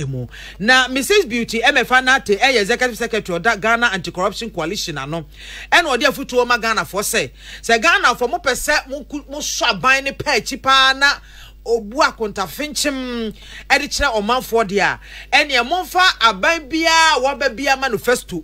mu. Na Mrs Beauty Emefa Nartey yɛ Executive Secretary ɔda Ghana Anti Corruption Coalition ano ɛna ɔde afutuo ma Ghanafoɔ sɛ, sɛ Ghanafoɔ mo pɛ sɛ mo mo sɔ aban no pɛ akyi paa na obu akontafenkyem ɛde kyerɛ ɔmanfoɔ deɛ a, ɛneɛ momfa aban biara a waba biara manifesto.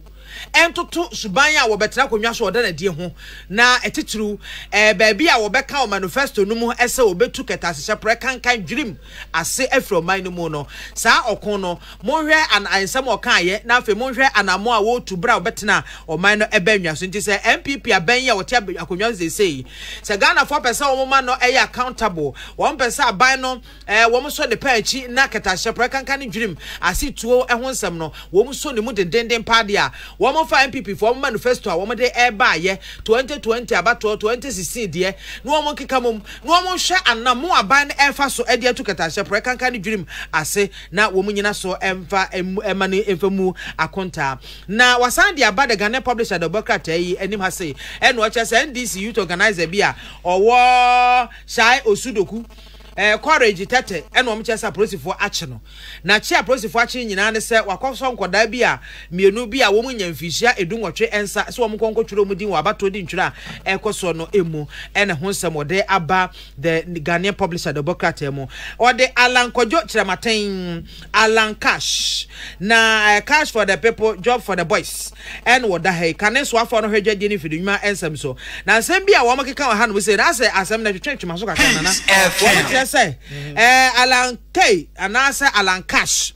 ntoto suban a wɔbɛtra akonnwa so a ɔda no adi ho, na titiriw, ɛɛ, baabi a wɔbɛka wɔ manifesto no mu sɛ wɔbetu kɛtɛasehyɛ prɛ kankan dwirim ase afiri ɔman no mu no. Saa ɔko no, monhwɛ an nsɛm a ɔkaeɛ, na afei monhwɛ anammɔn a wɔretu bere a wɔbɛtena ɔman no bɛn nnwa so. Nti sɛ NPP abɛn yi a wɔte akonnwa so seesei, sɛ Ghanafoɔ pɛ sɛ wɔma no yɛ accountable, wɔmpɛ sɛ aban no Ɛɛ, wɔsɔ ne pɛ akyi na kɛtɛahyɛ, prɛkanka ne dwirim ase tuo ho nsɛm no, wɔsɔ ne mu dendeenden paa deɛ a. Wɔfa NPP foɔ wɔn manifesto a wɔde rebaeɛ 2020 abatoɔ 2016 deɛ na wɔkeka mmom na wɔhwɛ anammo a aban no refa so de atu kɛtɛahyɛ, prɛkanka ne dwirim ase na wɔnnyina so mfa mma no mfa mmu akontaa. Na wɔasan de aba The Ghanaian Publisher de ɔbɔ krataa yi anim ha sei na ɔkyerɛ sɛ NDC youth organiser bi a ɔwɔ Shai Osudoku, Eh, courage tɛtɛ ɛna wɔn kyerɛ sɛ apolisifoɔ akye no. Na kye a apolisifoɔ akye no nyinaa ne sɛ wakɔsɔ nkɔdaa bi a mmienu bi a wɔn nnya mfinhyia edu nwɔtwe nsa sɛ wɔn nkɔ nkɔtwerɛ wɔn din wɔ abatoɔ di ntwerɛ a ɛrekɔ soɔ no mu ɛna ho nsɛm wɔde aba The Ghanaian Publisher Dɔbɔkrataa mu. Wɔde Allan Kwadwo Kyerɛmaten. Allan Cash na eh, Cash for the people, job for the boys ɛne wɔda ha yi. Kane soafoɔ no hwɛ dwadie ne mfidinwuma nsɛm so. Na nsɛm bi a wɔkeka wɔ hanom sei no, asɛ asɛm no twetwe twema so kakra nana. Wɔbɛkyerɛ sɛ eh, Allan Kay anaasɛ Allan Cash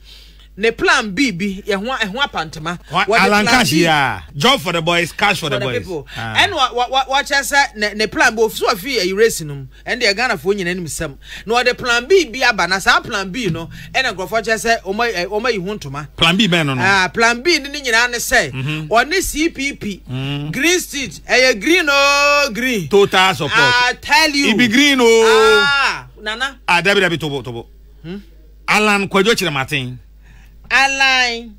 ne plan B bi yɛ ho ɛho apantema. Allan Cash ya, job for the boys, cash for the boys. Ɛna wɔkyerɛ sɛ ne plan B ofi so afi ɛyi race no mu. Ɛndeɛ Ghanafoɔ nyina nim sɛm na wɔde plan B bi aba na saa plan B no ɛna nkorɔfoɔ kyerɛ sɛ wɔn ayi ho ntoma. Plan B bɛn no no? Ah, plan B no ne nyinaa ne sɛ wɔne CPP, green street, ɛyɛ green oo green. Total support. I tell you. Ibi green oo. Ah, nana. Ah, dabi dabi tobo tobo. Alan Kwadwo Kyerematen. Alan.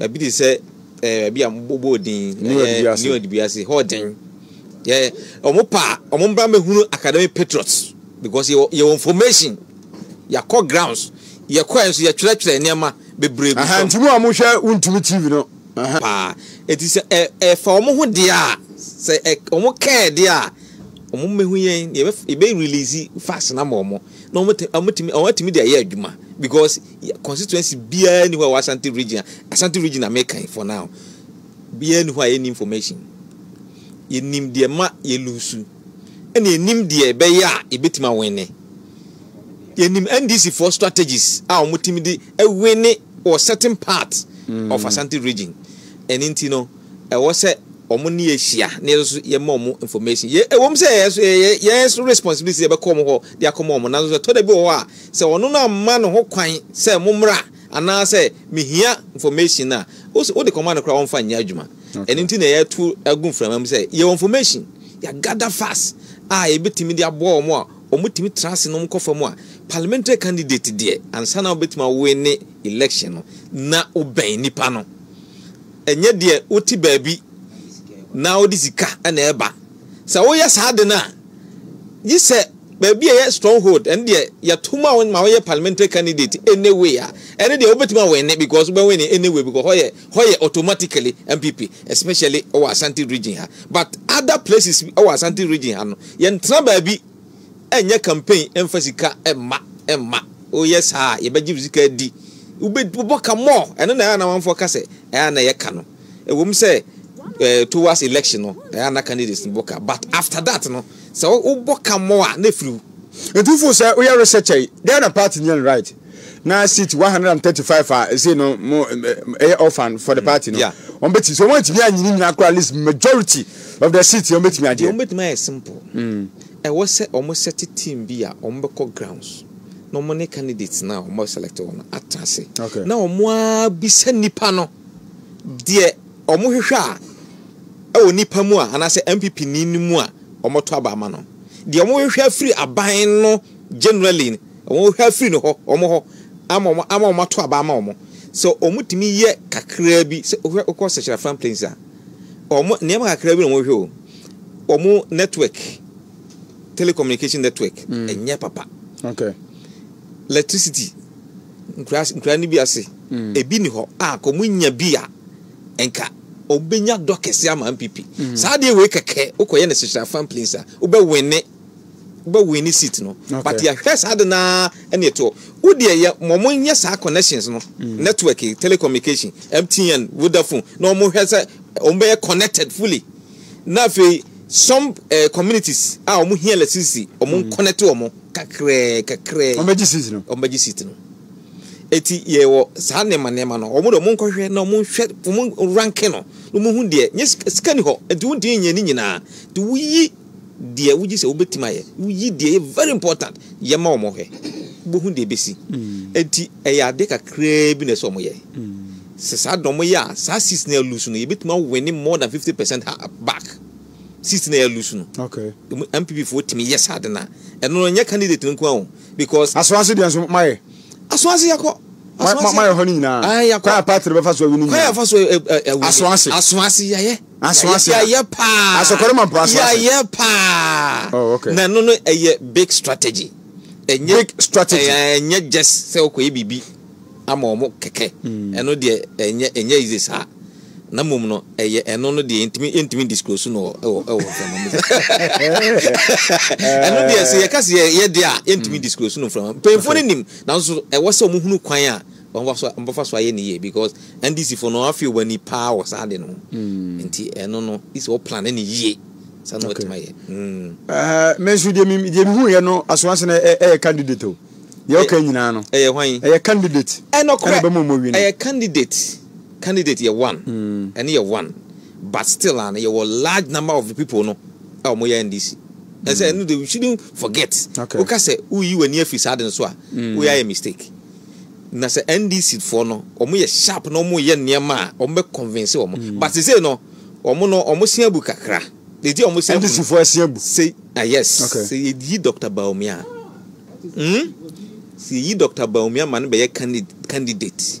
Ebi te sɛ ɛɛ ebi a wɔbɔ din. New Adibiase. New Adibiase hɔ den. Yɛ wɔn pa wɔn mbra mehunu academy patriots because yɛ yɛ wɔ information yɛakɔ grounds yɛkɔɛ nso yɛtwerɛtwerɛ nneɛma bebree gu fam. nti mu a mohwɛ wontumi tv no. paa eti sɛ ɛ ɛfa wɔn ho deɛ a sɛ ɛ wɔn kɛɛ deɛ a wɔn mmehu yɛn yɛbɛ yɛbɛ release fax na ma wɔn. na wɔatumi wɔatumi de ayɛ adwuma because constituency biara ni hɔ a wɔ Asante region Asante region a meka for now biara ni hɔ a yɛn information yɛnim deɛ ma yɛ lusu ɛna yɛnim deɛ ɛbɛyɛ a yɛbɛtumi awɛne yɛnim NDC for strategies a wɔtumi de awɛne wɔ certain part mm. of Asante region ɛne nti no ɛwɔ sɛ wɔn ne yɛ hyia na yɛn nso yɛma wɔn information yɛ ɛwɔ mu sɛ yɛ nso yɛ yɛn nso responsibility yɛbɛkɔ wɔn hɔ de akɔma wɔn nanso ɛtɔ da bi wɔ hɔ a sɛ ɔno no amma ne ho kwan sɛ mo mmra anaasɛ mehia information no a wode kɔma no koraa wɔmfa nyɛ adwuma ɛno nti na yɛto agu mframa mu sɛ yɛwɔ information yɛagada fast a yɛbɛtumi de aboa wɔn a wɔtumi tra ase na wɔkɔ fam a parliamentary candidate deɛ ansa na wobɛtumi awoe ne election no na wobɛn nipa no Ɛnyɛ deɛ wote baabi na wode sika na ɛba. Sɛ woyɛ saa de no a, gye sɛ baabi a ɛyɛ stronghold, ɛno deɛ yɛto ma wo ma woyɛ parliamentary candidate anyway a, ɛno deɛ wobɛtumi awɛne because wobɛwɛne anyway because hɔ yɛ hɔ yɛ automatically MPP especially wɔ Asante region ha. But other places wɔ Asante region ha no, yɛntena baabi. Ɛnyɛ campaign ɛmfa sika ɛmma ɛmma woyɛ saa a yɛbɛgye wo sika adi wobɛbɔ ka more ɛno na ɛyɛ na amanfoɔ ka sɛ ɛyɛ na ɛyɛ ka no ɛwom sɛ eh, towards election no ɛyɛ na candidates no bɔ ka but after that no sɛ wobɔ ka more a na ɛfiri wo. Nti wofo sɛ woyɛ research yi dɛn na party no yɛ no right? na seat one hundred and thirty five a ɛsɛ no mo ɛyɛ orphan for the party no wɔn bɛ ti so wɔn atumi anyini nyina kora at least majority of the seat wɔn bɛ tumi agye. wɔn bɛ tumi ayɛ simple hmm. ɛwɔ sɛ wɔn set team bi a wɔn bɛ kɔ grounds na wɔn ne candidates na wɔn select wɔn atra ase na wɔn abisa nipa no deɛ wɔn hwehwɛ a ɛwɔ nipa mu a anaasɛ npp ni mu a wɔn to aba ama no deɛ wɔn hwehwɛ afiri aban no generally. Wɔha firi ne hɔ, wɔn hɔ, ama wɔn, ama wɔn ato aba ama wɔn. Sɛ wɔtumi yɛ kakraa bi, sɛ wohwɛ wokɔ Sechira Fan Plains a, wɔn nneɛma kakraa bi na wɔhwɛ o. Wɔn network, telecommunication network, ɛnyɛ papa. Okay. Electricity, nkura nkura no bi ase, ebi ni hɔ a kɔ wɔn nya bi a nka wɔbɛnya dɔ kɛse ama MPP. Saa adeɛ wei kɛkɛ wokɔyɛ no Sechira Fan Plains a wobɛwene bɛ wini seat no okay. but yɛhwɛ saa de naa ɛne ɛtoɔ wo deɛ yɛ wɔn nyɛ saa connections no mm. network eh, telecommunication mtn vodafone na wɔn hwɛ sɛ wɔn bɛyɛ connected fully na afei some uh, communities a wɔn hia electricity wɔn mm. connect wɔn kakrɛɛ kakrɛɛ wɔn bɛgye seat no wɔn bɛgye seat no eti yɛwɔ saa nneɛma nneɛma no wɔn de wɔn nkɔhwɛ na wɔn nhwɛ wɔn ranke no na wɔn hu deɛ nye sika ni hɔ nti wɔn ti nyɛ ne nyinaa nti woyi. deɛ wogye sɛ wobɛtumi ayɛ woyi deɛ ɛyɛ very important yɛ ma wɔn hwɛ wobɛhu deɛ ɛbɛsi ɛnti ɛyɛ adeɛ kakraa bi na ɛsɛ wɔn yɛ sɛ saa deɛ wɔn yɛ a saa seats na ɛlusu no yɛbɛtumi awinne more than 50 percent ha back seats na ɛlusu no okay MPP foɔ tumi yɛ saa de no a ɛno no nyɛ candidate no nko a o because asoa nso deɛ nso mayɛ Aso ase yɛkɔ. Aso ase. Ma yɛ hɔ no nyinaa. Ayi yɛkɔ. Kwan apati no bɛfa so awi no nyinaa. Kwan yɛfa so ɛwɛ. E, e, e, aso ase. Aso ase yɛyɛ. Aso ase. Yɛyɛ paa. Aso kɔrɔ ma mpo aso ase. Yɛyɛ paa. Oh okay. Na no no ɛyɛ big strategy. Ɛnyɛ big strategy. Ɛnyɛ just sɛ ɔkɔ yɛ bibi ama ɔmo kɛkɛ. Ɛno deɛ ɛnyɛ ɛnyɛ easy saa. na mmom no ɛyɛ ɛno no deɛ yɛntumi yɛntumi disclose no wɔ ɛwɔ ɛwɔ mframa mu ɛno deɛ sɛ yɛka sɛ yɛ yɛ deɛ a yɛntumi disclose no mframa mpanyinfoɔ no nim nanso ɛwɔ sɛ wɔn hunu kwan a wɔn fa so wɔn fa so ayɛ ne yie because ndc fo no wɔn afi wɔn ani paa wɔ saa de no ho mm. nti ɛno no isi wɔ plan ne ne yie saa na wɔtumi ayɛ. mɛ mm. nso deɛ mi deɛ mi hu yɛ no asomasina ɛyɛ eh, eh, candidate o deɛ ɔka nyinaa no ɛyɛ hwan ɛyɛ candidate ɛnɔkorɛ ɛna bɛ mu ɔmɔ wi no ɛyɛ candidate. Candidate yɛ one, ɛno yɛ one but still a no yɛwɔ large number of the people no a wɔn yɛ NDC. Ɛsɛ ɛno de we shouldn't forget. Wo ka sɛ wo yi w'ani afi saa de no so a, wo yɛ ayɛ mistake. Na sɛ NDC foɔ no wɔn yɛ sharp na wɔn yɛ nneɛma a wɔn bɛ convince wɔn. But sese no wɔn no wɔn se abu kakra. Eti wɔn se abu. NDC foɔ ɛse abu. Se ah yes. Se yɛ yi Doctor Bawumia. Hmm. Se yɛ yi Doctor Bawumia ma no bɛ yɛ candidate.